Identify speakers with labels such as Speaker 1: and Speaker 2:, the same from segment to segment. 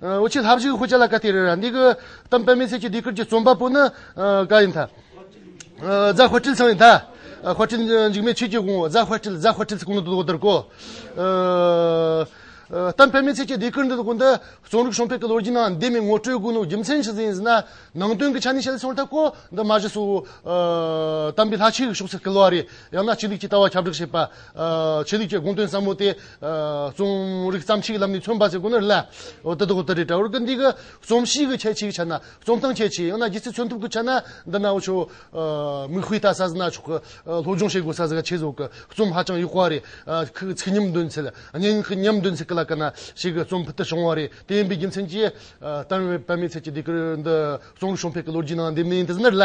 Speaker 1: དབུ་ཆེན་ལྷ་བཞུགས་ཧུ་ཅཱ་ལ་ཀ་ཏི་རི་ར་འདི་གུ་དམ་པདྨའི་སྲས་ཀྱི་སྡེ་ཁུལ་གྱི་རྩོམ་པ་པོ་ནི་ཀ་ཡིན་ཐ། རྫ་ཧོ་ཏྲིལ་ཚང་ཡིན་ཐ། ཧོ་ཏྲིལ་འཇིགས་མེད་ཆོས་ཀྱི་དགོངས་རྫ་ཧོ་ཏྲིལ་རྫ་ཧོ་ཏྲིལ་ཚི་གུང་ནི་འདུག་འདིར་གོ། དམ་པདྨའི་སྲས་ཀྱི་སྡེ་ཁུལ་འདི་དགུ་འདི་རྩོམ་རིག་གཞོན་ཕལ་གྱི་ལོ་རྒྱུས་ནང་འདས་མའི་ངོ་སྤྲོད་དགུ་ནི་རྒྱུ་མཚན་ཞིག་ཡིན་ཟེར་ན་ནང་དོན་གྱི་ཆ་ནས་བཤད་ལ་ཚོར་ཐབས་གོ་འདི་མ་གཞི་སུ་དམ་པའི་ལྷ་ཆོས་ཀྱི་ཕྱོགས་སུ་སྐྱེལ་བ་རེད་ཡང་ན་ཆོས་ལུགས་ཀྱི་ལྟ་བ་ཁྱབ་བསྒྲགས་བྱེད་པ། ཆོས་ལུགས་ཀྱི་དགོངས་དོན་ཟབ་མོ་དེ་རྩོམ་རིག་བརྩམས་ཆོས་ཀྱི་ལམ་ནས་མཚོན་པ་ཟེར་དགོས་ན་ལ་འོ་དེ་དག་ད་རེད་འདྲ་བར་ཀི་འདི་གི་རྩོམ་གཤིས་ཀྱི་ཁྱད་ཆོས་ཀྱི་ཆ་ན་རྩོམ་སྟངས་ཁྱད་ཆོས་ཡང་ན་སྒྱུ་རྩལ་མཚོན་ཐབས་ཀྱི་ཆ་ན་འདི་ན་འོ་ཆོ་མིག་དཔེ་ལྟ་ས་ཟི་ན་ཆོག་གི་སློབ་སྦྱོང་བྱེད་དགོས་ས་ཟི་ག་ཆེ་བཟོ་གི་རྩོམ་ཧ་ཅང་ཡོད་ཀ་རེད་ཁི་གི་ཚིག་ཉམས་འདོན་ཚད་སྙན་ཁི་ཉམས་འདོན་ཚད་ཀི་ལ་ཀ་ན་ཞིག་གི་རྩོམ་ཕུད་དུ་བྱུང་བ་རེད་དེ་ཡིན་པའི་རྒྱུ་མཚན་གྱིས་ཏན་བེད་པ་མེད་ཚད་ཀྱི་འདི་གི་འདི་རྩོམ་རིག་གཞོན་ཕལ་གྱི་ལོ་རྒྱུས་ནང་འདེབས་ནས་ཡིན་དེ་ཟི་ན་ལ།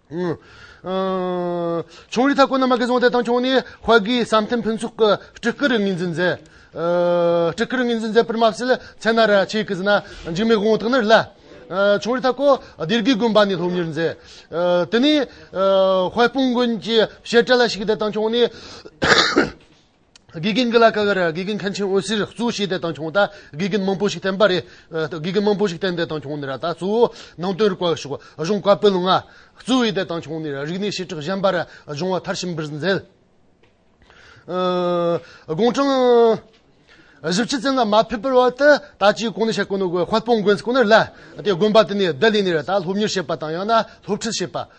Speaker 1: ཆུང་རིགས་ཐ་སྐོར་རྣམས་མ་གིས་བཟུང་སྟེ་བཏང་ཆུང་ནས་བྷ་གིའི་བསམ་གཏན་ཕུན་ཚོགས་ཀྱི་སྤྲུལ་སྐུ་རུ་ངོས་འཛིན་མཛད། སྤྲུལ་སྐུ་རུ་ངོས་འཛིན་མཛད་པར་མ་བྱས་ལ་ཚེ་ན་ར་ཆས་ཀྱི་ཟིན་ན་འཇིགས་མེད་དགོངས་དག་ནི་སླད། ཆུང་རིགས་ཐ་སྐོར་སྡེ་དགེའི་དགོན་པ་ནས་སློབ་གཉེར་མཛད། དེ་ནས་དཔལ་སྤུངས་དགོན་གྱི་བཤད་གྲྭ་ལ་ཞུགས་ཏེ་བཏང་ཆུང་ནས། དགེ་རྒན་འགས་ལ་ཀ་ཀ་རེད་དགེ་རྒན་མཁན་ཆེན་འོད་ཟེར་གཙོས་བྱས་ཏེ་བཏང་བྱུང་ད་དགེ་རྒན་མང་པོ་ཞིག་བསྟན་པ་རེད་དགེ་རྒན་མང་པོ་ཞིག་བསྟན་ཏེ་བཏང་བྱུང་ནས་ར་ད་གཙོ་བོ་ནང་དོན་རིག་པ་བ་ཞུགས་གཞུང་བཀའ་བོད་ལུང་ང་གཙོས་བྱས་ཏེ་བཏང་བྱུང་ནས་རིག་གནས་བྱེ་བྲག་གཞན་པ་ར་སྦྱོང་བ་མཐར་ཕྱིན་པར་མཛད། དགུང་གྲངས་བཞི་བཅུ་ཙམ་ལ་མ་ཕེབས་པར་བར་དུ་ད་ཅིའི་གོང་ནས་བཤད་དཀོན་ནོ་དགོས་དཔལ་སྤུངས་དགོན་གྱི་སྐུ་ནར་ལ་དེ་དགོན་པ་དེ་ནས་བདག་ལས་ནས་ར་ད་སློབ་གཉེར་བྱེད་པ་དང་ཡང་ན་སློབ་ཁྲིད་བྱེད་པ།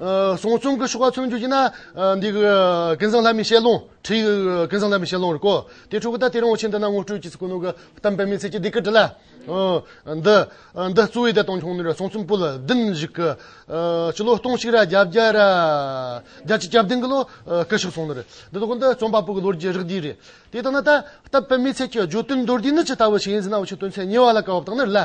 Speaker 1: སོང་ཆུང་གི་ཤོག་ཁག་མཚོན་རྒྱུ་ཡིན་ན། འདི་གི་ཀུན་བཟང་ལྷ་མི་བྱེད་ལོང། བྲིས་ཡོད་གི་ཀུན་བཟང་ལྷ་མི་བྱེད་ལོང་རེད་གོ། དེ་ཕྲུ་གུ་ད་དེ་རིང་བོ་ཆེ་འདི་ན་ངོ་སྤྲོད་ཀྱི་སྐུ་ནུ་གི་གཏམ་དཔེ་མི་ཚེ་སྐྱིད་སྡིག་གི་དྲི་ལ། འདི་འདི་གཙོ་བོའི་བདེ་ཐང་ཆུང་ནུ་རེད་སོང་ཆུང་སྤུ་ལ་བདུན་བཞུགས་གི། སྤྱི་ལོ་སྟོང་གཅིག་ར་བརྒྱ་བརྒྱ་ར་བརྒྱ་ཅི་སྐྱབས་ལྡན་གི་ལོ་སྐུ་ཞིག་སོང་ནི་རེད། འདི་ལོ་གི་འདི་རྩོམ་པ་པོ་གི་ལོ་རྒྱུས་རིགས་འདི་རེད། དེ་ལྟ་ན་ད་གཏམ་དཔེ་མི་ཚེ་སྐྱིད་བརྗོད་དོན་མདོར་བསྡུས་ནི་ཇི་ལྟ་བུ་ཞིག་ཡིན་ཟེར་ན་བོ་ཆེ་དོན་ཚན་གཉིས་བར་ལ་གོ་བ་དང་ནི་རེད་ལ།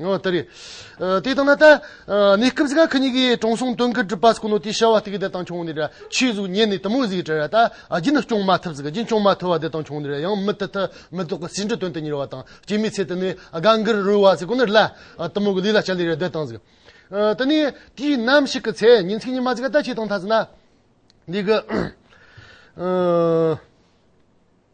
Speaker 1: ཨོ་དེ་རེད། དེ་ལྟར་ན་ད། གནས་སྐབས་ཀྱི་ཁ་ཉིན་གྱི་དྲང་སྲོང་སྟོན་ཀའི་གྲུབ་པ་སྐུ་ནོ་དེ་བྱ་བ་དེ་གི་དེ་དང་ཆུང་ནི་ར་ཆོས་གཟུགས་བརྙན་ནི་དུ་མུ་ཟིག་གྲི་ར་ད་རྒྱུ་ནི་སྐྱོང་མ་ཐུབ་ཟིག་རྒྱུན་སྐྱོང་མ་ཐུབ་བ་དེ་དང་ཆུང་ནི་ར་ཡང་མི་ཐུབ་ཐུ་མི་དོག་གི་ཟིན་བྲིས་དོན་དུ་གཉེར་བ་དང་སྐྱེ་མའི་ཚེ་དེ་ནི་དགའ་འགུར་རུལ་བ་ཟིག་གོ་ནི་རླ། དུ་མུ་གི་ལུས་ལ་བྱ་ལས་ར་སྡོད་དང་ཟིག། དེ་ནི་དུས་ནམ་ཞིག་གི་ཚེ་ཉིན་ཚིག་ཉི་མ་ཟིག་ད་ཆོས་དང་ཐ་ཟིན་ན། འདི་གི།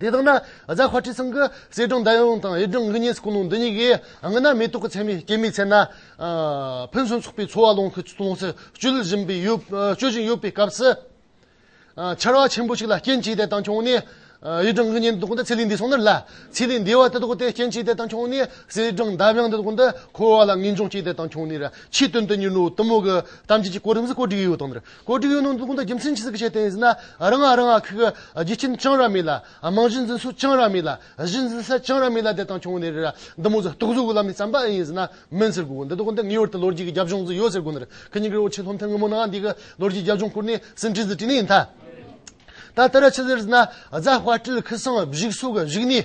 Speaker 1: དེ་དག་ན་བཟའ་བྷ་ཏྲི་སང་གི་བསེ་སྦྲང་མདའ་ཡང་དང་ཡུལ་སྦྲང་གི་གཉན་སྐུ་ནོང་འདི་གཉིས་ཀྱིས་ང་ན་མེ་ཏོག་གི་ཚལ་མི་སྐྱེ་མི་འཚལ་ན། ཕུན་སུམ་ཚོགས་པའི་འཚོ་བ་ལོངས་སུ་སྤྱོད་བཞིན་པའི་སྤྱོད་བཞིན་ཡོད་པའི་སྐབས་སུ། ཆར་བ་ཆེན་པོ་ཞིག་ལ་སྐྱེ་འཆི་དེ་དག་བྱུང་ནས། ཡུལ་སྦྲང་གི་གཉན་དེ་དག་འདི་ཚེ་ལས་འདས་སོང་ནི་ལ། ཚེ་ལས་འདས་བ་དེ་དག་དེ་སྐྱེ་འཆི་དེ་དག་བྱུང་ནས་བསེ་སྦྲང་མདའ་དབྱངས་དེ་དག་འདི་འཁོར་བ་ལ་ངེས་འབྱུང་སྐྱེ་དེ་དག་བྱུང་ནས་ར་ཕྱིའི་དོན་དུ་གཉིས་ལོ་དུ་མོ་གི་གཏམ་རྒྱུད་ཀྱི་སྐོར་རིམ་གཟིགས་སྐོར་བསྒྲིགས་ཡོད་དོ། བཀོད་སྒྲིག་ཡོད་ནང་འཛུགས་སྐྲུན་དང་རྒྱུ་མཚན་ཇི་སྲིད་ཀྱི་ཆེད་དེ་ཡིན་ཟེར་ན་རང་རང་གི་གི་རྒྱུ་རྐྱེན་རྐྱང་རག་མེད་ལ་རྨང་གཞི་འཛིན་སྲོལ་རྐྱང་རག་མེད་ལ་གཞི་འཛིན་ས་རྐྱང་རག་མེད་ལ་དེ་དང་ཆུང་ནས་རེ་ར་འདི་མོ་ཟེར་རྟོག་བཟོ་གི་ལམ་ནས་བརྩམས་པ་ཡིན་ཟེར་ན་མིན་ཟེར་དགོས་གི་འདི་དག་འདི་ངེས་བར་དུ་ལོ་རྒྱུས་ཀྱི་རྒྱབ་ལྗོངས་སུ་ཡོད་ཟེར་དགོས་ནི་རེད་གི་སྙིང་རེ་བོ་ཆེ་ལྷོ་མཐའི་སྔོན་མོ་ནང་འདི་གི་ལོ་རྒྱུས་རྒྱབ་ལྗོངས་བསྐུར་ནས་ཟིན་བྲིས་སུ་བྲིས་ནི་ཡིན་ད་ལྟ་ར་ཆི་ཟེར་ཟེར་ན་རྫ་དཔའ་སྤྲེལ་ཁི་སངས་བཞུགས་སོགས་གཞུགས་ནས་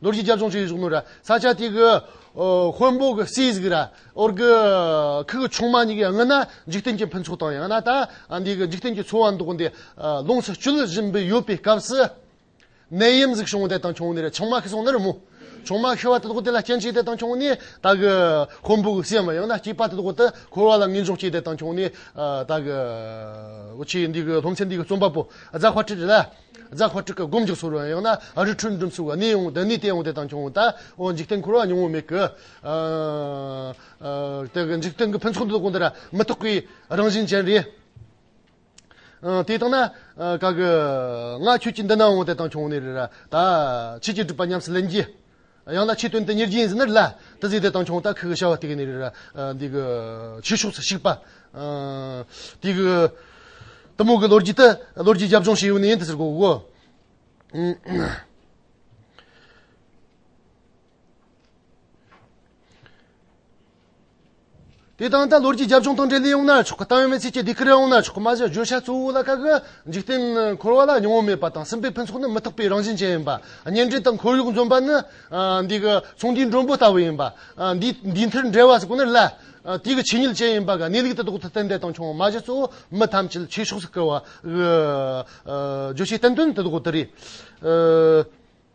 Speaker 1: རྡོ་རྗེ་རྒྱ་མཚོ་མཆོད་ཡུལ་སུག་མོ་ར། ས་ཆ་དེ་གི་ཧོན་པོ་གི་སྲིད་གཞི་ར། ཨོར་གི་ཁུལ་གྱི་ཆུང་མ་གཉིས་ཀྱི་ངོས་ན་འཇིག་རྟེན་གྱི་ཕུན་ཚོགས་དང་ཡང་ན་ད་ལྟའི་འཇིག་རྟེན་གྱི་འཚོ་བ་མདོག་འདི་ལོངས་སུ་སྤྱོད་བཞིན་པའི་ཡོད་པའི་སྐབས་སུ། ནད་ཡམས་གཞུང་བདེ་དང་ཆུང་ནེར་ཆང་མ་ཤི་སོང་ནི་རི་མོ། ཆུང་མ་ཤི་བ་དེ་དག་དེ་ལ་སྐྱེ་འཆི་བདེ་དང་ཆུང་ནི་ད་གི་ཧོན་པོ་གི་སྲིད་མ་ཡང་ན་སྐྱེས་པ་དེ་དག་དུ་འཁོར་བ་ལ་ངེས་འབྱུང་སྐྱེས་བདེ་དང་ཆུང་ནི་ད་གི་ཨོ་ཆེ་འདི་གི་སློབ་ཚན་འདི་གི་རྩོམ་པ་པོ་རྫ་བྷ་ཏྲི་རེད་ལ། རྫ་ཁ་ཁྲིག་གི་སྒོམ་རྒྱུག་ཟུར་བ་ཡང་ན་ཨ་རི་ཁྲུན་འབྲུམ་ཟུར་བ་ནི་འོང་དེ་ནི་དེ་འོང་དེ་དང་ཁྱོད་འོང་ད་འོང་འཇིག་རྟེན་འཁོར་བ་ཉུང་ངུ་མེད་གི། དེ་གི་འཇིག་རྟེན་གི་ཕུན་ཚོགས་འདི་དག་གང་དུ་ར་མི་རྟོག་པའི་རང་བཞིན་ཅན་རེད། དེ་དང་ན་ག་གི་ང་ཁྱོད་ཀྱི་འདི་ན་འོང་དེ་དང་ཁྱོད་འོང་ནི་རེད་ར་ད། ཕྱིས་ཀྱི་སྒྲུབ་པ་ཉམས་སུ་ལེན་གྱིས། ཡང་ན་ཆེད་དོན་དེ་ཉེར་བརྒྱད་ཟིན་ན་རེད་ལ། དེ་ཟིན་ཏེ་དང་ཆུང་ལྟར་ཁུ་གུ་ཤ་བ་ཏིག་ནི་རེད། འདི་གུ། ཆོས་ཕྱོགས་སུ་ཞུགས་པ། དེ་གུ། དུ་མོ་གི་ལོ་རྒྱུས་ཏེ། ལོ་རྒྱུས་རྒྱབ་ལྗོངས་ཞེས་ཡོད་ནི་ཡིན་དེ་ཟེར་དགོས་གོ། དེ་དང་ད་ལོར་གྱི་རྒྱབ་ལྗོངས་དང་འབྲེལ་ལས་ཡོང་ན་ཆོག་གི་ཏང་ཡོན་མི་ཚེ་གཅིག་སྡེ་ཁུལ་རེ་འོང་ན་ཆོག་གི་མ་གཞི་བརྗོད་བྱ་གཙོ་བོ་ལ་དཀའ་གི་འཇིག་རྟེན་འཁོར་བ་ལ་མྱོང་བ་མེད་པ་དང་སེམས་པའི་ཕུན་ཚོགས་ནི་མི་རྟག་པའི་རང་བཞིན་ཅན་ཡིན་པ་གཉེན་སྒྲིག་དང་ཁོར་ཡུག་འཛོམས་པ་ནི་འདི་གི་ཚོང་འདུས་མགྲོན་པོ་ལྟ་བུ་ཡིན་པ་འདིའི་མཐུན་འབྲེལ་བ་ཟེར་དགོས་ནི་ལ་དུས་ཀྱི་ཆོས་ཉིད་ཅན་ཡིན་པ་ག་ནས་ལུག་དེ་ལྡོག་ཏུ་གཏན་བདེ་དང་ཆུང་བ་མ་གཞི་གཙོ་བོ་མི་ཐམས་ཅད་ཆོས་ཕྱོགས་སུ་སྐུལ་བ་གི་བརྗོད་བྱའི་བསྟན་དོན་དེ་ལྟ་བུ་དེ་རེད།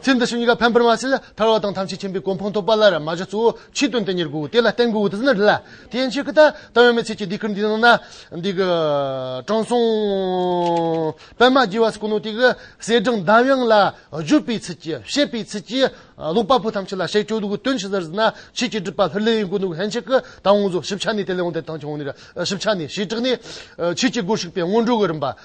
Speaker 1: ཚེ་འདི་ཕྱི་གཉིས་ཀ་ཕན་པར་མ་བྱས་ལ་ཐར་བ་དང་ཐམས་ཅད་མཁྱེན་པའི་གོ་འཕང་ཐོབ་པ་ལ་ར་མ་གཞི་གཙོ་བོ་ཕྱིའི་དོན་དེ་ཉེར་དགོས་དེ་ལ་བརྟེན་དགོས་དེ་ཚིག་ན་རེ་ལ་དེ་འཆད་ཀྱི་དང་ལྟ་བའི་མི་ཚེ་གཅིག་འདི་ཁུར་འདི་གནང་ན་འདི་གི་དྲང་སྲོང་པདྨ་རྒྱལ་བ་སྐུ་ནོ་དེ་གི་གསལ་བསྒྲགས་མདའ་དབྱངས་ལ་བརྗོད་པའི་ཚུལ་གྱིས་བཤད་པའི་ཚུལ་གྱིས་ཀློག་པ་པོ་ཐམས་ཅད་ལ་བཤད་ཆོག་འདུག་དོན་ཇི་ལྟར་ཟེར་ན་ཕྱིས་ཀྱི་སྒྲུབ་པ་ལྷུར་ལེན་ཡིན་དགོས་འདུག་ལྷན་ཅིག་གི་དང་དབང་རྫོགས་ཞིབ་ཆ་ནས་དེ་ལས་འོངས་ཏེ་དང་ཆ་འོངས་ནས་ར་ཞིབ་ཆ་ནས་ཞེས་དྲག་ནས་ཕྱིས་ཀྱི་སྒོར་ཞུགས་པའི་སྔོན་འགྲོ་གི་རིམ་པ་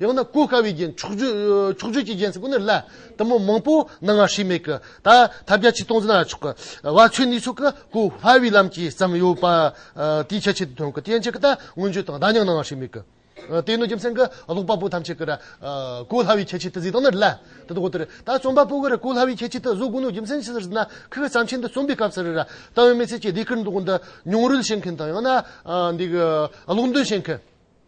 Speaker 1: ཡང་ན་གོ་དཀའ་བའི་རྒྱན། ཕྱོགས་བརྒྱུད་ཀྱི་རྒྱན་ཟེར་དགོས་ན་ལ་དུམ་བུ་མང་པོ་སྣང་ངར་ཧྲིལ་མེད་ཀྱི། ད་ཐབས་བརྒྱ་ཆའི་སྟོང་ཟིན་ན་ཆོག་གི། བ་ཆོས་ནུས་སོགས་ཀྱི་གོ་སླ་བའི་ལམ་གྱིས་བརྩམས་ཡོད་པ། དེའི་ཁྱད་ཆོས་དེ་མཐོང་གི་དེ་ཡན་ཆད་ཀྱི་ད་མངོན་བརྗོད་དང་ད་མྱང་སྣང་ངར་ཧྲིལ་མེད་ཀྱི། དེ་ནི་རྒྱུ་མཚན་གྱི་ཀློག་པ་པོ་ཐམས་ཅད་ཀྱིར་གོ་སླ་བའི་ཁྱད་ཆོས་དེ་གཟིགས་སྟངས་ནི་ལ་དེ་དག་གོ་དེར། ད་རྩོམ་པ་པོ་ཀྱིར་གོ་སླ་བའི་ཁྱད་ཆོས་དེ་བཟོ་དགོས་ན་རྒྱུ་མཚན་ཅི་ཟེར་ཟེར་ན་ཁོས་བརྩམས་ཆོས་འདི་རྩོམ་པའི་སྐབས་སུ་ར་ཏཱ་བའི་མི་ཚེ་ཀྱི་ཟློས་གར་འདི་གོ་འདི་མྱོང་རོལ་བྱེད་མཁན་དང་ཡང་ན་འདི་གློག་འདོན་བྱེད་མཁན།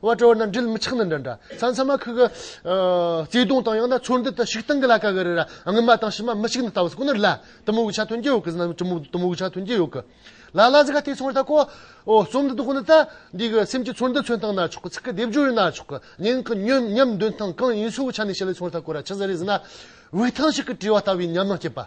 Speaker 1: བ་དྲོ་ན་འདྲིལ་མི་ཆགས་ན་འདྲ་འདྲ་ས་མཚམས་མ་ཁུག་གི། བརྩེ་དུང་དང་ཡང་ན་ཚོར་འདུ་དང་ཤིག་དང་གི་ལ་ཀ་གི་རི་ར་ངུ་མ་དང་ཤི་མ་མི་ཤིག་ན་ལྟ་བ་ཟི་ཀོ་ནི་རི་ལ་དུ་མུ་གུ་ཆ་ཐོན་གྱི་ཡོག་གི་ཟི་ན་དུ་མུ་གུ་ཆ་ཐོན་གྱི་ཡོག་གི། ལ་ལ་ཟི་ཁ་ཐེ་ཚོར་ད་ཀོ། རྩོམ་འདི་དག་ནི་ད་འདི་གི་སེམས་ཀྱི་ཚོར་འདུ་མཚོན་སྟངས་ན་ཆོག་གི་ཚིག་གི་སྡེབ་སྦྱོར་ཡིན་ན་ཆོག་གི་ཉིན་གི་ཉམས་འདོན་སྟངས་གང་ཡིན་སོགས་ཀྱི་ཆ་ནས་བཤད་ལ་ཚོར་ད་ཀོ་ར་ཆི་ཟི་རི་ཟི་ན་བའི་ཐང་ཞིག་གི་བྲིས་བ་ལྟ་བུའི་ཉམས་སྣང་སྐྱེས་པ།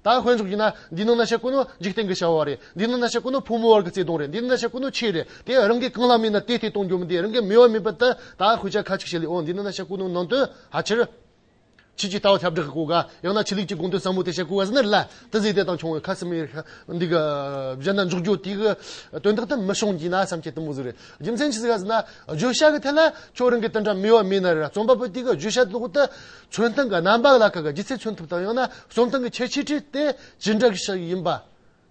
Speaker 1: ད་དཔེ་འཇོག་བགྱིས་ན། འདི་ནི་གནའ་ཤུལ་ཀུན་ནོ་འཇིག་རྟེན་གྱི་བྱ་བ་རེད། འདི་ནི་གནའ་ཤུལ་ཀུན་ནོ་ཕོ་མོའི་བར་གྱི་བརྩེ་དུང་རེད། འདི་ནི་གནའ་ཤུལ་ཀུན་ནོ་ཆོས་རེད། དེ་རང་གིས་གང་ལ་སྨིན་ན་དེ་དེ་གཏོང་རྒྱུ་མི་འདི་རང་གིས་སྨིན་བ་མིན་པ་དེ་ད་ཤུལ་བྱ་ཁ་ཅིག་བྱེད་ལེ་ཨོ་འདི་ནི་གནའ་ཤུལ་ཀུན་ནོ་ནང་དོན་ཧ་ཅིར། ཕྱིས་ཀྱི་ལྟ་བ་ཁྱབ་བསྒྲགས་ཀྱི་སྐུ་དགའ། ཡང་ན་ཕྱི་ལུགས་ཀྱི་དགོངས་དོན་ཟབ་མོ་དེ་བཤད་སྐུ་དགའ་ཟེར་ན་རི་ལ་ཏི་ཟིའི་གཏེར་དང་ཆུང་བའི་ཁ་སིམ་མེར་འདི་གི་གཞན་དག་འཇོག་རྒྱུ་དེ་གི་དོན་དག་དེ་མི་བྱུང་བགྱིས་ན་བསམ་ཁྱད་དུ་མོ་ཟིག་རེད། རྒྱུ་མཚན་ཅི་ཟེར་ཟེར་ན། བརྗོད་བྱ་གི་ཐད་ལ་ཁྱོད་རང་གིས་དེ་འདྲ་སྨིན་བ་མིན་ན་རི་རྩོམ་པ་པོ་དེ་གི་བརྗོད་བྱ་དེ་ལོག་ཏུ་མཚོན་སྟངས་ཀྱི་རྣམ་པ་ལ་ཁག་གི་ལྗིད་ཚད་མཚོན་ཐུབ་དང་ཡང་ན་གསུང་སྟངས་ཀྱི་ཁྱད་ཆོས་ཁྲིད་དེ་ཇི་འདྲ་ཞིག་ཡིན་པ།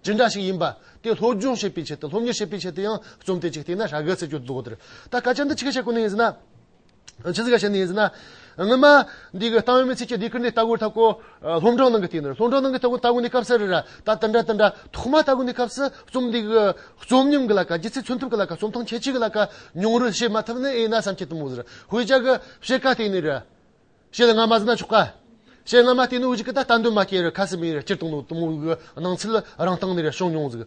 Speaker 1: ཇི་འདྲ་ཞིག་ཡིན་པ་དེ་སློབ་སྦྱོང་བྱེད་པའི་ཆེད་དུ་སློབ་གཉེར་བྱེད་པའི་ཆེད་དུ་ཡང་རྩོམ་དེ་གཅིག་བལྟས་ན་ཧྲ་གི་ཚིག་སྦྱོར་དུ་ད་སྐད་ཆ་འདི་ཅི་ག་ཞིག་གོ་ནི་ཡིན་ཟེར་ན། ཅི་ཟེར་ག་ཞིག་ནི་ཡིན་ཟེར་ན། སྔོན་མ་འདི་གི་གཏམ་མི་ཚིག་ཅིག་འདི་ཁུར་ནས་ལྟ་གོ་ལྟ་གོ། སློབ་འབྲིང་ནང་གི་དེ་ནི་སློབ་འབྲིང་ནང་གི་ལྟ་གོ་ལྟ་གོ་ནི་སྐབས་སར་ད་དེ་འདྲ་དེ་འདྲ་ཐོག་མ་ལྟ་གོ་ནི་སྐབས་སུ་རྩོམ་འདི་གི་རྩོམ་ཉམས་ཀྱི་ལ་ཁ་ལྗིད་ཚད་མཚོན་ཐུབ་ཀྱི་ལ་ཁ་རྩོམ་སྟངས་ཁྱད་ཆོས་ཀྱི་ལ་ཁ་མྱོང་རོལ་བྱེད་མ་ཐུབ་ནི་ཨེ་ན་བསམ་ཁྱེད་དུ་མོ་ཟེར་ཧུའེ་ཅག་གི་བཤད་ཀ་དེ་ནི་རེད། ཞེས་སྔ་མ་ཟིན་ན་ཆོག་ག། ཞེས་སྔ་མ་བལྟས་ནས་འོས་གཞི་ཀི་ད་ལྟ་འདོན་མ་སྐྱེལ་རེ་ཁ་སི་མེད་རེ་སྤྱིར་བཏང་དུ་མོའུ་འགི་སྣང་ཚུལ་རང་སྟེང་ནས་རེ་བྱུང་མྱོང་ཟིག།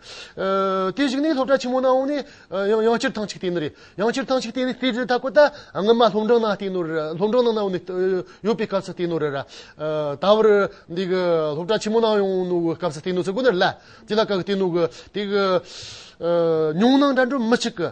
Speaker 1: དེ་ཞིག་ནི་སློབ་གྲྭ་ཆེན་མོ་ན་འོང་ནས་ཡང་སྤྱིར་ཐང་ཅིག་བལྟས་ནི་རེད། ཡང་སྤྱིར་ཐང་ཅིག་བལྟས་ནས་བལྟས་རེ་ད་གོ་ད་སྔོན་མ་སློབ་འབྲིང་ནང་བལྟས་ནོ་རེ་ར་སློབ་འབྲིང་ནང་ན་འོ་ནི་ཡོད་པའི་སྐབས་སུ་བལྟས་ནོ་རེ་ར། ད་བར་འདི་གི་སློབ་གྲྭ་ཆེན་མོ་ནང་ཡོང་ནོ་གི་སྐབས་སུ་བལྟས་ནོ་ཟེར་དགོས་ནི་རེ་ལ། དེ་ལ་ག་གི་བལྟས་ནོ་གི་དེ་གི། མྱོང་སྣང་འདྲ་འདྲོན་མི་ཆིག་གི།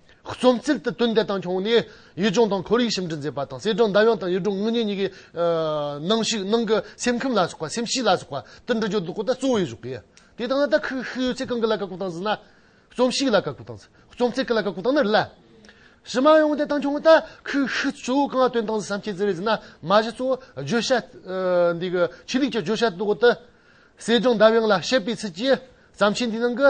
Speaker 1: རྩོམ་རྩིག་ཏུ་དོན་དེ་དང་འཁྱོངས་ནས་ཡུལ་ལྗོངས་དང་ཁོར་ཡུག་ཞིབ་འབྲི་མཛད་པ་དང་གསལ་བསྒྲགས་མདའ་དབྱངས་དང་ཡུལ་སྒྲུང་དངོས་གཉེར་གཉིས་ཀྱི་ནང་ཞུགས་གནང་གི་སེམས་ཁམས་ལ་སོགས་པ་སེམས་གཤིས་ལ་སོགས་པ་དུད་འགྲོ་སྦྱོར་དུ་གོ་བརྡ་གཙོ་བོའི་གཞུག་གི་དེ་དང་དག་ཁུལ་ཤུལ་ཡོད་ཚད་གང་གི་ལ་བཀའ་བསྒོ་བཏང་ཟིན་ན། རྩོམ་གཤིས་ལ་བཀའ་བསྒོ་བཏང་ཟིན་རྩོམ་རྩིག་གི་ལ་བཀའ་བསྒོ་བཏང་ན་རེད་ལ། ཕྱི་མ་ཡང་དེ་དང་འཁྱོངས་དག་ཁུལ་ཤུལ་གཙོ་བོ་གང་ལ་དོན་དང་བསམ་ཁྱད་ཟེར་བའི་ཟིན་ན་མ་གཞི་གཙོ་བོ་བརྗོད་བྱ་འདི་གི་ཆོས་ལུགས་ཀྱི་བརྗོད་བྱ་དུ་གོ་དུ། གསལ་བསྒྲགས་མདའ་དབྱངས་ལ་བཤད་པའི་ཚུལ་གྱིས་བརྩམས་ཆོས་འདིའི་ནང་གི་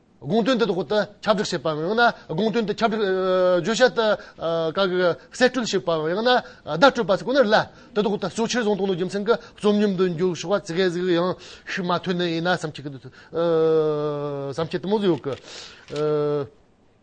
Speaker 1: དགོངས་དོན་དེ་ཐོག་ཏུ་ཁྱབ་བསྒྲགས་བྱེད་པའམ་ཡང་ན་དགོངས་དོན་དེ་ཁྱབ་བསྒྲགས་བརྗོད་བྱ་ལྟར་དགག་གི་གསེད་བཀྲོལ་བྱེད་པའམ་ཡང་ན་བརྡ་སྤྲོད་པ་ཁོ་ནར་སླ། དེ་ཐོག་ཏུ་ཕྱོགས་ཆོས་བཟང་སྟོང་ལོ་རྒྱུ་མཚན་གྱི་རྩོམ་ཉམས་དུ་འགྱུར་ཞོག་པ་གལ་ཟིག་ཡང་ཤུགས་མ་ཐོན་ནི་ཡིན་ན་བསམ་ཁྱད་དུ་མ་ཟིག་ཡོད།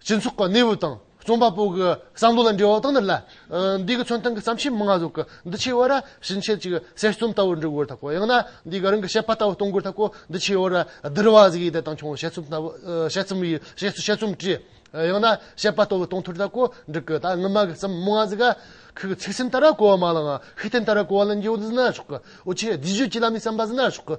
Speaker 1: སྤྱི་ཚོགས་ཀྱི་གནས་བབ་དང་རྩོམ་པ་པོ་གི་བསམ་བློ་ལ་འབྲེལ་བ་དང་ནི་ལ། འདི་གི་མཚོན་དོན་གྱི་བརྩམས་ཆོས་མང་གཟུགས་ཀྱི་འདུ་བྱེད་དབར་ཕྱིན་ཆད་ཅིག་གསེར་རྩོམ་ལྟ་བུར་འབྲི་དགོས་ཐག་གོ། ཡང་ན་འདི་གི་རང་གི་བཤད་པ་ལྟ་བུར་གཏོང་དགོས་ཐག་གོ། འདུ་བྱེད་དབར་བསྡུར་བ་གཟིགས་ཡིད་དང་མཆོང་བ་བཤད་རྩོམ་བཤད་རྩོམ་ཡིན་བཤད་བཤད་རྩོམ་བྲིས། ཡང་ན་བཤད་པ་ལྟ་བུར་གཏོང་ཐུར་ཐག་གོ། འདི་གི་ད་སྔ་མ་གི་བརྩམས་མང་གཟུགས་ཀྱི་ཚིག་སེམས་ལྟར་གོ་བ་མ་ལའང་ཤུགས་བསྟན་ལྟར་གོ་བ་ལ་འགྱུར་བ་འདི་ན་ཆོག་གི། འོ་ཆེ་བསྡུས་བརྗོད་ཀྱི་ལམ་ནས་བསམ་པ་འདི་ན་ཆོག་གི།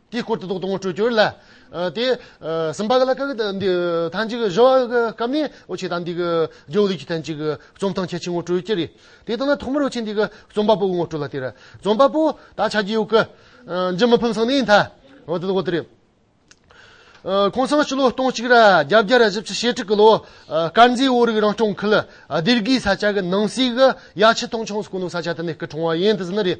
Speaker 1: དེའི་སྐོར་དུ་དོགས་དང་སྤྲོས་བསྐྱུར་ལ། དེ་སུམ་པ་ལ་ཀཱི་ཀཱི་འདི་ཐང་ཅིག་གཞོལ་བ་གི་སྐབས་ནས་འོ་ཆེ་དང་འདི་གི་རྗེའུ་ལུས་ཀྱི་ཐང་ཅིག་རྩོམ་ཐང་ཁྱད་ཆེ་ངོ་སྤྲོད་ཀྱི་རེད། དེ་ལྟ་ན་ཐོག་མར་འོ་ཆེ་འདི་གི་རྩོམ་པ་པོ་ངོ་སྤྲོད་ལ་དེར། རྩོམ་པ་པོ་ད་ཆ་རྗེའུ་ཀཱི་འཇིམ་མི་ཕུན་སང་ནས་མཐའ་འོ་དེ་ལོ་དེ་རེད། ཁོང་སང་སྤྱི་ལོ་སྟོང་གཅིག་ར་བརྒྱ་བརྒྱ་ར་བཞི་བཅུ་ཞེ་དྲུག་གི་ལོ་དཀར་མཛེས་དབོ་རིགས་རང་སྐྱོང་ཁུལ་སྡེར་དགེའི་ས་ཆ་གི་ནང་གསེས་གི་ཡ་ཆི་ཐང་ཆང་སྐུ་ནུ་ས་ཆ་དེ་ནས་སྐུ་གྲོངས་བ་ཡིན་དེ་ཟིན་ནི་རེད།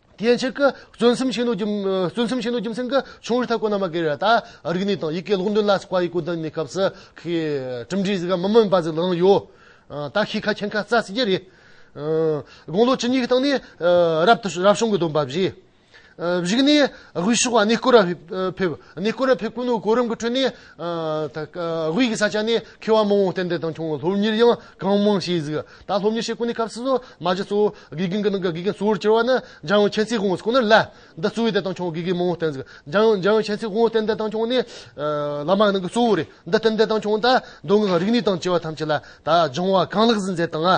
Speaker 1: དེའི་ཕྱིར། བརྩོན་སེམས་ཆེན་པོའི་རྒྱུ་མཚན། ཆུང་རིགས་ཐ་སྐོར་རྣམ་པ་འགའི་རེ་བ་དང། རིག་གནས་དང་ཡི་གེའི་ལུགས་འདོན་ལ་སོགས་པ་ཡིག་གུ་བདུན་གཉིས་སྐབས་སུ། གྲུབ་འབྲས་གཟིགས་ཀ་མི་སྨོན་པ་ཟིག་ལང་ཡོད། དག་ཤེས་ཁ་ཁྱེར་ཁ་རྩ་སྲིད་ཀྱི་རེད། དགུང་ལོ་བཅུ་གཉིས་ཀྱི་སྟེང་ནས། རབ་ཏུ་རབ་བྱུང་གི་སྡོམ་པ་བཞེས། བཞུགས་གནས་དབུས་ཕྱོགས་ནས་སྐུ་རབས་ཕེབས། གནས་སྐུ་རབས་ཕེབས་ཀུན་ནས་གོ་རིམ་གྱི་ཁྲོད་ནས། དབུས་ཀྱི་ས་ཆ་ནས་ཁེ་བ་མང་བོ་ཏན་ཏན་བཏང་བྱུང་སློབ་གཉེར་ཡང་གང་མང་བྱས་གཟིགས་ད་སློབ་གཉེར་བྱེད་སྒོ་ནི་སྐབས་སུ་སོ་མ་བཞི་གཙོ་བོ་དགེ་རྒན་གྱི་ནང་གི་དགེ་རྒན་གཙོ་བོར་གྱུར་བ་ནི་འཇང་ཡོན་ཁྱད་མཚེས་དགོངས་སུ་ཁོ་ནར་སླད་ཟླ་གཙོ་བོའི་སྡེ་བཏང་བྱུང་དགེ་རྒན་མང་བོ་ཏན་གཟིགས་འཇང་ཡོན་ཁྱད་མཚེས་དགོངས་ཏན་ཏན་བཏང་བྱུང་ནི་བླ་མ་ནང་གི་གཙོ་བོ་རེད་འདི་ཏན་ཏན་བཏང་བྱུང་ད་མདོ་སྔགས་རིག་གནས་དང་བཅས་པ་ཐམས་ཅད་ལ་ད་སྦྱང་བ་གང་ལེགས་སུ་མཛད་དང།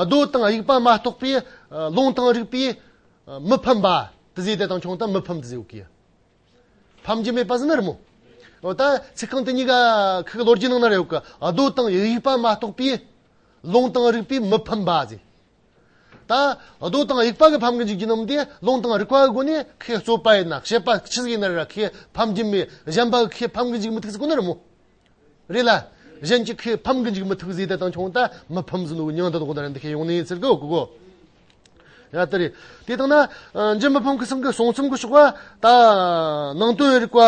Speaker 1: རྡོ་དང་དབྱུག་པ་མ་གཏོགས་པའི་རླུང་དང་རིག་པས་མི་ཕམ་པ། དེ་ཟིག་དེ་དང་ཆུང་དང་མི་ཕམ་དེ་ཟིག་ཨོ་ཁེ། ཕམ་རྒྱུ་མེད་པ་ཟིག་ན་རི་མོ། ཨོ་ད་ཚིག་རྐང་དེ་གཉིས་ཀ་ཁག་གི་ལོ་རྒྱུས་ནང་ན་རེ་ཨོ་ཁེ། རྡོ་དང་དབྱུག་པ་མ་གཏོགས་པའི་རླུང་དང་རིག་པས་མི་ཕམ་པ་ཟིག། ད་རྡོ་དང་དབྱུག་པ་གིས་ཕམ་གི་འཇུག་རྒྱུ་རྣམས་དེ་རླུང་དང་རིག་པ་གི་སྒོ་ནས་ཁོས་རྩོད་པ་ཡིན་ན་བཤད་པ་ཅི་ཟིག་ཡིན་ན་རེ་ར་ཁོས་ཕམ་རྒྱུ་མེད་གཞན་པ་གིས་ཁོས་ཕམ་གི་འཇུག་མི་ཐུག་ཟིག་ཁོ་ན་རི་མོ། རེད་ལ། གཞན་གྱིས་ཁོས་ཕམ་གི་འཇུག་མི་ཐུག་ཟེར་ཏེ་བཏང་ཆོག་ད་མི་ཕམ་ཟིན་འདུག་ཉང་ཏོག་ཏོག་ད་རེད་འདི་ཁས་ཡོང་ནི་ཟེར་གི་འོ་གོ། ཡ་ད་རེད། དེ་དང་ན། འཇིག་མི་ཕམ་གི་སེམས་ཀྱི་སོང་ཚུམ་གྱི་ཤོག་བ། ད། ནང་དོན་རིག་པ།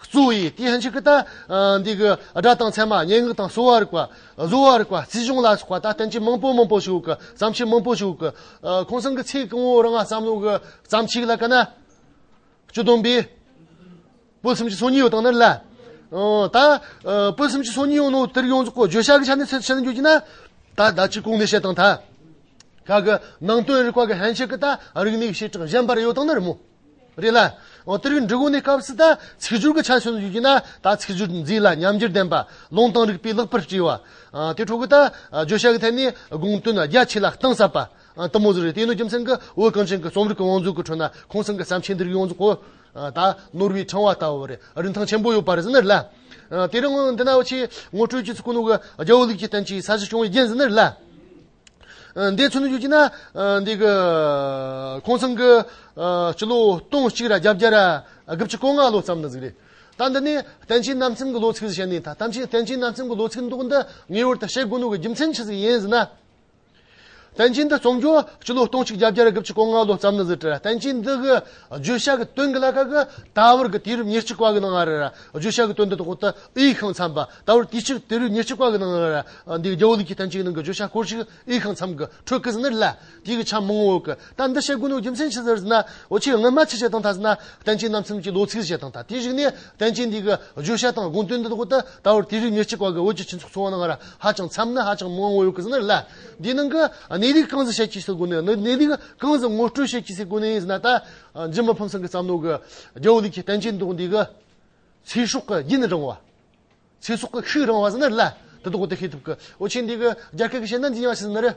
Speaker 1: གཙོ་བོའི་དེ་ཧན་ཆིག་གི་ད། འདི་གི་སྒྲ་དང་ཚད་མ་སྙན་ངག་དང་གསོ་བ་རིག་པ། བཟོ་བ་རིག་པ་རྩིས་གཞུང་ལ་སོགས་པ་ད་བསྟན་བྱའི་མང་པོ་མང་པོ་ཞིག་གི་བརྩམས་ཆོས་མང་པོ་ཞིག་གི། ཁོང་ཚང་གི་ཚེ་གང་བོ་རང་བསམ་བློ་གི་བརྩམས་ཆོས་ལ་དཀའ་ན། སྤྱི་བསྡོམས་པའི། སྤོས་སུམ་ཅུ་སོ་གཉིས་ཡོད་སྟངས་ནི་ལ། ད་སྤོས་སུམ་ཅུ་སོ་གཉིས་ཡོད་ནོ་དེར་ཡོངས་རྫོགས་བརྗོད་བྱ་གི་ཆ་ནས་ཚད་བཤད་ན་འགྱུར་གྱི་ན། ད་བདག་གཅིག་ཀུན་ནས་བཤད་སྟངས་དག། ཁ་གི་ནང་དོན་རིག་པ་གི་ཧན་ཆེ་གི་ད་རིག་གནས་ཀྱི་བྱེ་བྲག་གཞན་པར་ཡོད་སྟངས་ནི་རི་མོ། རེད་ལ། དེར་ཡང་འབྲི་གུང་ནས་སྐབས་སུ་ད་ཚིག་སྦྱོར་གི་ཆ་བཤད་ན་འགྱུར་གྱི་ན། ད་ཚིག་སྦྱོར་འཛིན་ལ་ཉམས་འགྱུར་ལྡན་པ་ལུང་དང་རིགས་པས་ལེགས་པར་བྲིས་པ། དེ་འཕྲོ་གི་ད་བརྗོད་བྱ་གི་ཐད་ནས་དགོངས་དོན་རྒྱ་ཆེ་ལ་གཏིང་ཟབ་པ། ལྟ་མོ་ཟུ་རེ་སྟེ་ནུ་རྒྱུ་མཚན་གྱི་འོད་གངས་ཅན་གྱི་རྩོམ་རིག་གི་དབང་ཕྱུག་གི་ཁྲོད་ན་ཁོང་ཚང་གི་བསམ་འཆར་འདིར་ཡོངས་རྫོགས་གོ། ད་ནོར་བུའི་ཕྲེང་བ་ལྟ་བུ་རེ་རིན་ཐང་ཆེན་པོ་ཡོད་པར་ཟིན་ནི་རེད། དེ་རིང་འདི་ན་བོད་ཕྱི་ངོ་སྤྲོད་ཀྱི་ཚིག་ཀུན་ནོ་གི་རྒྱལ་བོ་ལུགས་ཀྱི་རྟེན་གྱི་ས་གཞི་བྱུང་བའི་རྒྱན་ཟིན་ནི་རེད། འདི་ཚོ་ནི་བརྗོད་ཀྱི་ན་འདི་གི། ཁོང་ཚང་གི་སྤྱི་ལོ་སྟོང་གཅིག་ར་བརྒྱ་བརྒྱ་ར་དགུ་བཅུ་གོ་ལྔ་ལོ་ཙམ་ན་གཟིགས་རེད། ད་འདི་ནི་བསྟན་བྱའི་རྣམ་སེམས་གྱི་ལོ་ཚིགས་སུ་བཤད་ནས་ད་བསྟན་བྱའི་རྣམ་སེམས་གྱི་ལོ་ཚིགས་འདུག་འདི་ངེས་བར་དུ་བཤད་དགོས་ནོ་གི་རྒྱུ་མཚན་ཇི་ཟིག་ཡིན་ཟེར་ན། བསྟན་བཅོས་འདི་རྩོམ་རྒྱུ་སྤྱི་ལོ་སྟོང་གཅིག་བརྒྱ་བརྒྱད་རེ་གབ་ཆིག་གོ་ལྔ་ལོ་བརྩམས་ནས་གཟིགས་འཕྲལ་བསྟན་བཅོས་འདི་གི་བརྗོད་བྱ་གི་དོན་གྱི་བླ་ག་གི་ད་བར་གྱི་དུས་རབས་ཉེར་གཅིག་པ་གི་ནང་ལ་བརྗོད་བྱ་གི་དོན་དུ་ཐོག་ཏུ་དབྱིག་ཤངས་འཚམས་པ་ད་བར་དུས་ཕྱིས་དུས་རབས་ཉེར་གཅིག་པ་གི་ནང་ལ་འདིའི་རྒྱལ་བོ་ལུགས་ཀྱི་བསྟན་བཅོས་ནང་གི་བརྗོད་བྱ་སྐོར་ཞིག་དབྱིག་ཤངས་འཚམས་ཀྱི་ཁྲོད་ཀྱི་ཟིན་ནི་ལ་དུས་ཀྱི་ཆ་མང་བོ་གི་ད་འདི་བཤད་དགོས་ནི་རྒྱུ་མཚན་ཅི་ཟེར་ཟེར་ན་འོ་ཆེས་སྔོན་མ་ཆེ་བྱེད་སྟངས་དང་ཟེར་ན་བསྟན་བཅོས་རྣམ་གསུམ་གྱི་ལོ་ཚིགས་བྱེད་སྟངས་དང་དེའི་རིགས་ནི་བསྟན་བཅོས་འདི་གི་བརྗོད་བྱ་དང་དགོངས་དོན་འདི་དག་ཏུ་ད་བར་དེ་རིགས་ཉེར་གཅིག་བར་གྱི་བོད་ཀྱི་སྤྱི་ཚོགས་འཚོ་བ་ནང་ལ་ཧ་ཅང་འཚམ་ན་ཧ་ཅང་མང་བོ་ཡོད་ཀི་ཟེར་ན་ལ། འདིའི་ནང་གི་གནས་རིགས་གང་ཟག་བཤད་ཀྱིས་སུ་དགོས་ནི་གནས་རིགས་གང་ཟག་ངོ་སྤྲོད་བྱེད་ཀྱིས་སུ་དགོས་ནི་ཟེར་ན་ད་འཇིགས་མ་ཕམ་སེང་གི་བསམ་བློ་གི་རྒྱལ་བོ་ལུགས་ཀྱི་བསྟན་བཅོས་འདི་དག་འདི་གི་ཚེ་སྲོག་གི་རྒྱུན་རིང་བ། ཚེ་སྲོག་གི་ཤུགས་རིང་བ་ཟེར་ན་ལ་དེ་དག་ཏུ་ཤེས་ཐུབ་ཀི་འོ་ཆེས་འདི་གི་རྒྱ་སྐད་ཀྱི་བཤད་ན་འདི་ཡང་ཟེར་ན་རེད།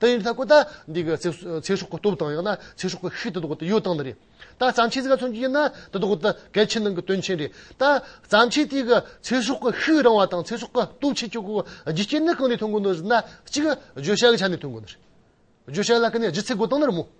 Speaker 1: ད་ཡིན་ད་གོ་ད་འདི་གི་ཚེ་སྲོག་གི་སྟོབས་དང་ཡང་ན་ཚེ་སྲོག་གི་ཤུགས་དེ་དག་གི་ཡོད་སྟངས་འདི་རེད། ད་བརྩམས་ཆོས་ཟེར་ག་ཚོན་གྱི་ཡིན་ན་དེ་དག་གི་གལ་ཆེན་ནང་གི་དོན་ཆེན་རེད། ད་བརྩམས་ཆོས་དེ་གི་ཚེ་སྲོག་གི་ཤུགས་རིང་བ་དང་ཚེ་སྲོག་གི་སྟོབས་ཆེ་ཆོག་གི་རྒྱུ་རྐྱེན་ནི་གང་ནས་ཐོན་དགོས་ནོ་ཟེར་ན་གཅིག་བརྗོད་བྱ་གི་ཆ་ནས་ཐོན་དགོས་ནོ། བརྗོད་བྱ་ལ་ཀི་ནས་ལྗིད་ཚད་དགོས་སྟངས་ནི་རི་མོ།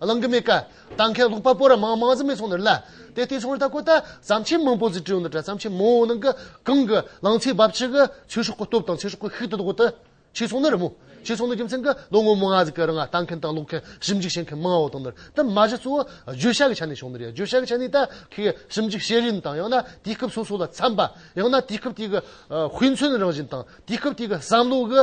Speaker 1: གླང་གི་མེ་ཀ་དང་མཁན་སློབ་པ་པོ་ར་མང་མང་གཟིགས་མེད་སོང་ནི་ལ། དེ་ལྟའི་ཚོང་ར་དག་གོ་ད་བརྩམས་ཆེན་མང་པོ་གཟིགས་བྲིས་ཡོང་ནི་དྲ་བརྩམས་ཆེན་མང་བོ་ནང་གི་གང་གི་གླང་ཚའི་འབབ་ཆགས་གི་ཆོས་ཤོག་གི་སྟོབས་དང་ཚེ་སྲོག་གི་ཤུགས་དེ་དག་གོ་ད་ཕྱིས་སོང་ནི་རི་མོ་ཕྱིས་སོང་ནི་རྒྱུ་མཚན་གི་ལོ་ངོ་མང་གཟིགས་ཀྱི་ར་ང་ལྟ་མཁན་དང་ཀློག་མཁན་ཞིབ་འཇུག་བྱེད་མཁན་མང་བོ་དང་ནི་དེ་མ་གཞི་གཙོ་བོ་བརྗོད་བྱ་གི་ཆ་ནས་བྱུང་ནི་རེད་བརྗོད་བྱ་གི་ཆ་ནས་ད་གིའི་ཞིབ་འཇུག་བྱེད་རིན་དང་ཡང་ན་དུས་སྐབས་སོ་སོ་ལ་འཚམས་པ་ཡང་ན་དུས་སྐབས་དེ་གི་དཔེ་མཚོན་རང་བཞིན་དང་དུས་སྐབས་དེ་གི་བསམ་བློ་གི།